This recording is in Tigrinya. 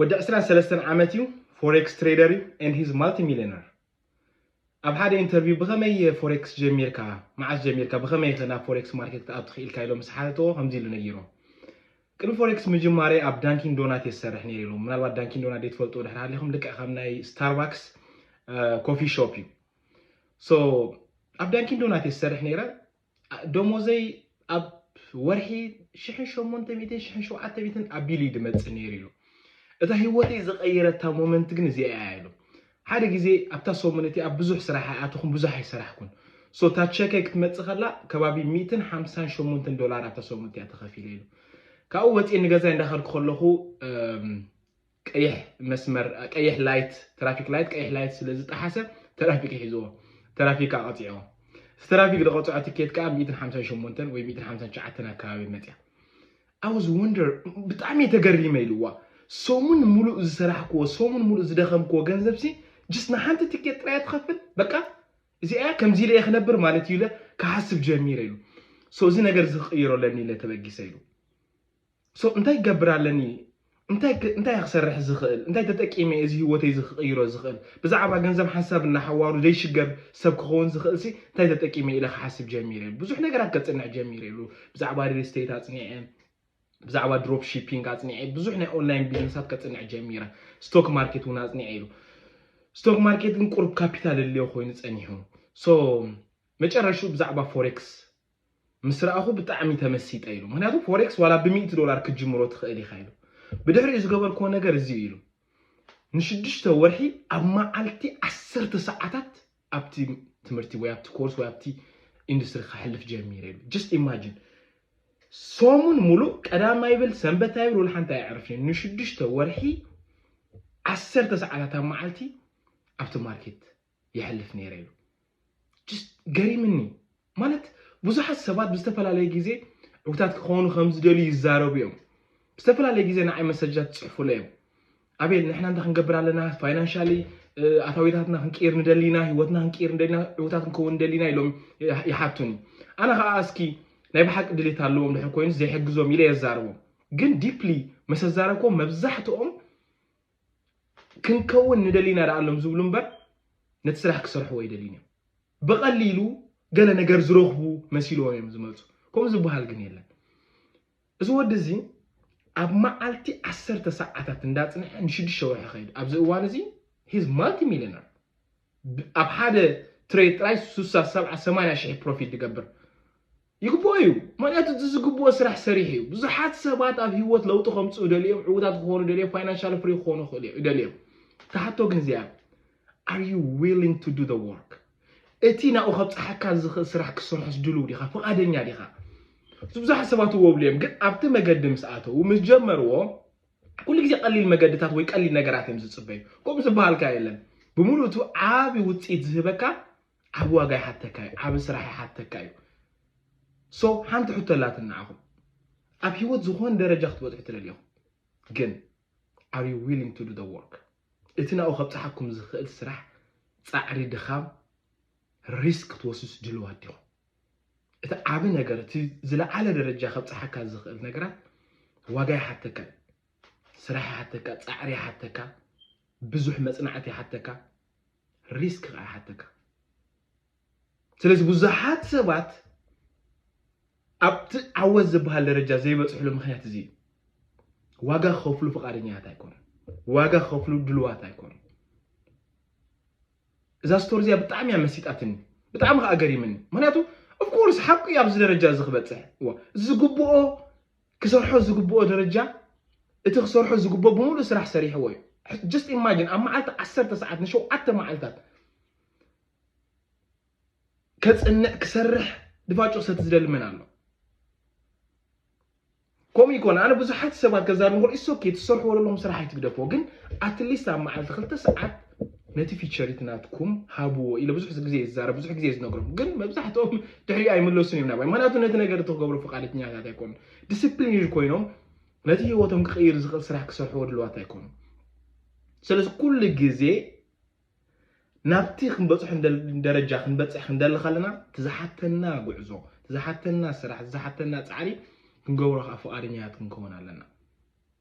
ወዲ ዕስራን ሰለስተን ዓመት እዩ ፎሬክስ ትሬደር እዩ and he's multimillionaire ኣብ ሓደ ኢንተርቪው ብኸመይ ፎሬክስ ጀሚርካ መዓስ ጀሚርካ ብኸመይ ከ ናብ ፎሬክስ ማርኬት ክትኣቱ ትኽኢልካ ኢሎም ምስ ሓተትዎ ከምዚ ኢሉ ነጊሮ ቅድሚ ፎሬክስ ምጅማረይ ኣብ ዳንኪን ዶናት እየ ዝሰርሕ ነይረ ኢሎም ምናልባት ዳንኪን ዶናት ዘይትፈልጡ ድሕር ሃሊኹም ልክዕ ከም ናይ ስታርባክስ ኮፊ ሾፕ እዩ ሶ ኣብ ዳንኪን ዶናት እየ ዝሰርሕ ነይረ ደሞዘይ ኣብ ወርሒ ሽሕን ሸሞንተ ሚእትን ሽሕን ሸውዓተ ሚእትን ኣቢሉ እዩ ድመፅእ ነይሩ ኢሉ። እታ ህይወተይ ዝቐየረታ ሞመንት ግን እዚኣ እያ ኢሉ። ሓደ ግዜ ኣብታ ሰሙን እቲኣ ብዙሕ ስራሕ ኣይኣተኹን፣ ብዙሕ ኣይሰራሕኩን። ሶ እታ ቸከይ ክትመፅእ ከላ ከባቢ ሚእትን ሓምሳን ሸሞንተን ዶላር ኣብታ ሰሙን እቲኣ ተኸፊለ ኢሉ። ካብኡ ወፂኤ ንገዛይ እንዳኸድኩ ከለኹ ቀይሕ መስመር ቀይሕ ላይት ትራፊክ ላይት ቀይሕ ላይት ስለ ዝጠሓሰ ተራፊክ ይሕዝዎ ተራፊክ ከኣ ቀጺዖ እቲ ተራፊክ ዝቐጽዖ ትኬት ከኣ ሚእትን ሓምሳን ሸሞንተን ወይ ሚእትን ሓምሳን ትሽዓተን ኣከባቢ መጽያ I was wonder ብጣዕሚ እየ ተገሪመ ኢልዋ ሰሙን ሙሉእ ዝሰራሕክዎ ሰሙን ሙሉእ ዝደኸምክዎ ገንዘብ ሲ ጅስ ንሓንቲ ትኬት ጥራይ ትኸፍል በቃ እዚኣ እያ ከምዚ ኢለ እየ ክነብር ማለት እዩ ኢለ ክሓስብ ጀሚረ ኢሉ ሶ እዚ ነገር እዚ ክቕይሮ ለኒ ኢለ ተበጊሰ ኢሉ So እንታይ ክገብር ኣለኒ? እንታይ እንታይ ክሰርሕ ዝኽእል? እንታይ ተጠቂመ እዚ ህይወተይ እዚ ክቕይሮ ዝኽእል? ብዛዕባ ገንዘብ ሓንሳብ እናሓዋሩ ዘይሽገር ሰብ ክኸውን ዝኽእልሲ እንታይ ተጠቂመ ኢለ ክሓስብ ጀሚረ። ብዙሕ ነገራት ከጽንዕ ጀሚረ ኢሉ። ብዛዕባ ሪል ስቴት ኣጽኒዐ፣ ብዛዕባ ድሮፕ ሺፒንግ ኣጽኒዐ፣ ብዙሕ ናይ ኦንላይን ቢዝነሳት ከጽንዕ ጀሚረ። ስቶክ ማርኬት እውን ኣጽኒዐ ኢሉ። ስቶክ ማርኬት ግን ቁሩብ ካፒታል እድልዮ ኮይኑ ጸኒሑ። ሶ መጨረሽኡ ብዛዕባ ፎሬክስ ምስ ረኣኹ ብጣዕሚ ተመሲጠ ኢሉ። ምኽንያቱ ፎሬክስ ዋላ ብሚእቲ ዶላር ክትጅምሮ ትኽእል ኢኻ ኢሉ። ብድሕሪኡ ዝገበርክዎ ነገር እዚ እዩ ኢሉ። ንሽዱሽተ ወርሒ ኣብ መዓልቲ ዓሰርተ ሰዓታት ኣብቲ ትምህርቲ ወይ ኣብቲ ኮርስ ወይ ኣብቲ ኢንዱስትሪ ከሕልፍ ጀሚረ ኢሉ። ጀስት ኢማጂን ሰሙን ሙሉእ ቀዳም ኣይብል ሰንበት ኣይብል ወላ ሓንቲ ኣየዕርፍን ንሽዱሽተ ወርሒ ዓሰርተ ሰዓታት ኣብ መዓልቲ ኣብቲ ማርኬት የሕልፍ ነይረ ኢሉ። ገሪምኒ ማለት ብዙሓት ሰባት ብዝተፈላለየ ግዜ ዕጉታት ክኾኑ ከም ዝደልዩ ይዛረቡ እዮም። ብዝተፈላለየ ግዜ ንዓይ መሰጃት ትጽሕፉለ እዮም። ኣቤል ንሕና እንታይ ክንገብር ኣለና ፋይናንሻሊ ኣታዊታትና ክንቅይር ንደሊ ኢና፣ ህይወትና ክንቅይር ንደሊ ኢና፣ ዕውታት ክንከውን ንደሊ ኢና ኢሎም ይሓቱኒ። ኣነ ከዓ እስኪ ናይ ብሓቂ ድሌት ኣለዎም ድሕር ኮይኑ ዘይሕግዞም ኢለ የዛርቦም። ግን ዲፕሊ መሰዛረብኮም መብዛሕትኦም ክንከውን ንደሊ ኢና ደኣሎም ዝብሉ እምበር ነቲ ስራሕ ክሰርሕዎ ኣይደልዩን እዮም። ብቐሊሉ ገለ ነገር ዝረኽቡ መሲልዎም እዮም ዝመፁ። ከምኡ ዝበሃል ግን የለን። እዚ ወዲ እዚ ኣብ መዓልቲ ዓሰርተ ሰዓታት እንዳፅንሐ ንሽዱሽተ ወርሒ ከይዱ ኣብዚ እዋን እዚ ሂዝ ማልቲ ሚሊዮነር ኣብ ሓደ ትሬድ ጥራይ ሱሳ ሰብዓ ሰማንያ ሽሕ ፕሮፊት ድገብር ይግብኦ እዩ ምክንያቱ እቲ ዝግብኦ ስራሕ ሰሪሑ እዩ ብዙሓት ሰባት ኣብ ሂወት ለውጢ ከምፅኡ ደልዮም ዕውታት ክኾኑ ደልዮም ፋይናንሻል ፍሪ ክኾኑ ይኽእሉ ደልዮም ተሓቶ ግን እዚኣ are you willing to do the work እቲ ናብኡ ከብፅሓካ ዝኽእል ስራሕ ክሰርሖስ ድልው ዲኻ ፍቓደኛ ዲኻ ብዙሓት ሰባት እዎ ብልዮም ግን ኣብቲ መገዲ ምስ ኣተዉ ምስ ጀመርዎ ኩሉ ግዜ ቀሊል መገድታት ወይ ቀሊል ነገራት እዮም ዝጽበዩ ከምኡ ዝበሃልካ የለን ብምሉእቱ ዓቢ ውጽኢት ዝህበካ ዓቢ ዋጋ ይሓተካ እዩ ዓቢ ስራሕ ይሓተካ እዩ ሶ ሓንቲ ሕቶ ኣላትን ንዓኹም ኣብ ህይወት ዝኾነ ደረጃ ክትበጽሑ ትደልዩ ኢኹም ግን ኣር ዩ ዊሊንግ ቱ ዱ ዘ ወርክ እቲ ናብኡ ከብጽሓኩም ዝኽእል ስራሕ ጻዕሪ ድኻም ሪስክ ክትወስዱስ ድልዋት ዲኹም እቲ ዓቢ ነገር እቲ ዝለዓለ ደረጃ ከብጽሓካ ዝኽእል ነገራት ዋጋ ይሓተካ እዩ ስራሕ ይሓተካ ጻዕሪ ይሓተካ ብዙሕ መጽናዕቲ ይሓተካ ሪስክ ከዓ ይሓተካ ስለዚ ብዙሓት ሰባት ኣብቲ ዓወት ዝበሃል ደረጃ ዘይበፅሕሉ ምክንያት እዚ ዋጋ ክኸፍሉ ፍቃደኛታት ኣይኮኑ ዋጋ ክኸፍሉ ድልዋት ኣይኮኑ እዛ ስቶሪ እዚኣ ብጣዕሚ እያ መሲጣትኒ ብጣዕሚ ከዓ ገሪምኒ ምክንያቱ ኦፍኮርስ ሓቁ እዩ ኣብዚ ደረጃ እዚ ክበፅሕ እዋ ዝግብኦ ክሰርሖ ዝግብኦ ደረጃ እቲ ክሰርሖ ዝግብኦ ብምሉእ ስራሕ ሰሪሕዎ እዩ ጀስት ኢማጂን ኣብ መዓልቲ ዓሰርተ ሰዓት ንሸውዓተ መዓልታት ከፅንዕ ክሰርሕ ድፋጮ ሰቲ ዝደሊ መን ኣሎ ከምኡ ይኮን ኣነ ብዙሓት ሰባት ከዛርብ ንኮል ኢትስ ኦኬ ትሰርሕዎ ዘለኹም ስራሕ ኣይትግደፍዎ ግን ኣትሊስት ኣብ መዓልቲ ክልተ ሰዓት ነቲ ፊቸሪት ናትኩም ሃብዎ ኢለ ብዙሕ ግዜ ይዛረብ ብዙሕ ግዜ ዝነግሮም ግን መብዛሕትኦም ድሕሪኡ ኣይምለሱን እዮም ናባይ ምክንያቱ ነቲ ነገር እቲ ክገብሩ ፍቃደኛታት ኣይኮኑ ዲስፕሊን ኮይኖም ነቲ ህይወቶም ክቅይር ዝኽእል ስራሕ ክሰርሕዎ ድልዋት ኣይኮኑ ስለዚ ኩሉ ግዜ ናብቲ ክንበጽሖ እንደል ደረጃ ክንበጽሕ ክንደሊ ከለና እቲ ዝሓተና ጉዕዞ እቲ ዝሓተና ስራሕ እቲ ዝሓተና ጻዕሪ ክንገብሮ ከኣ ፍቓደኛታት ክንከውን ኣለና።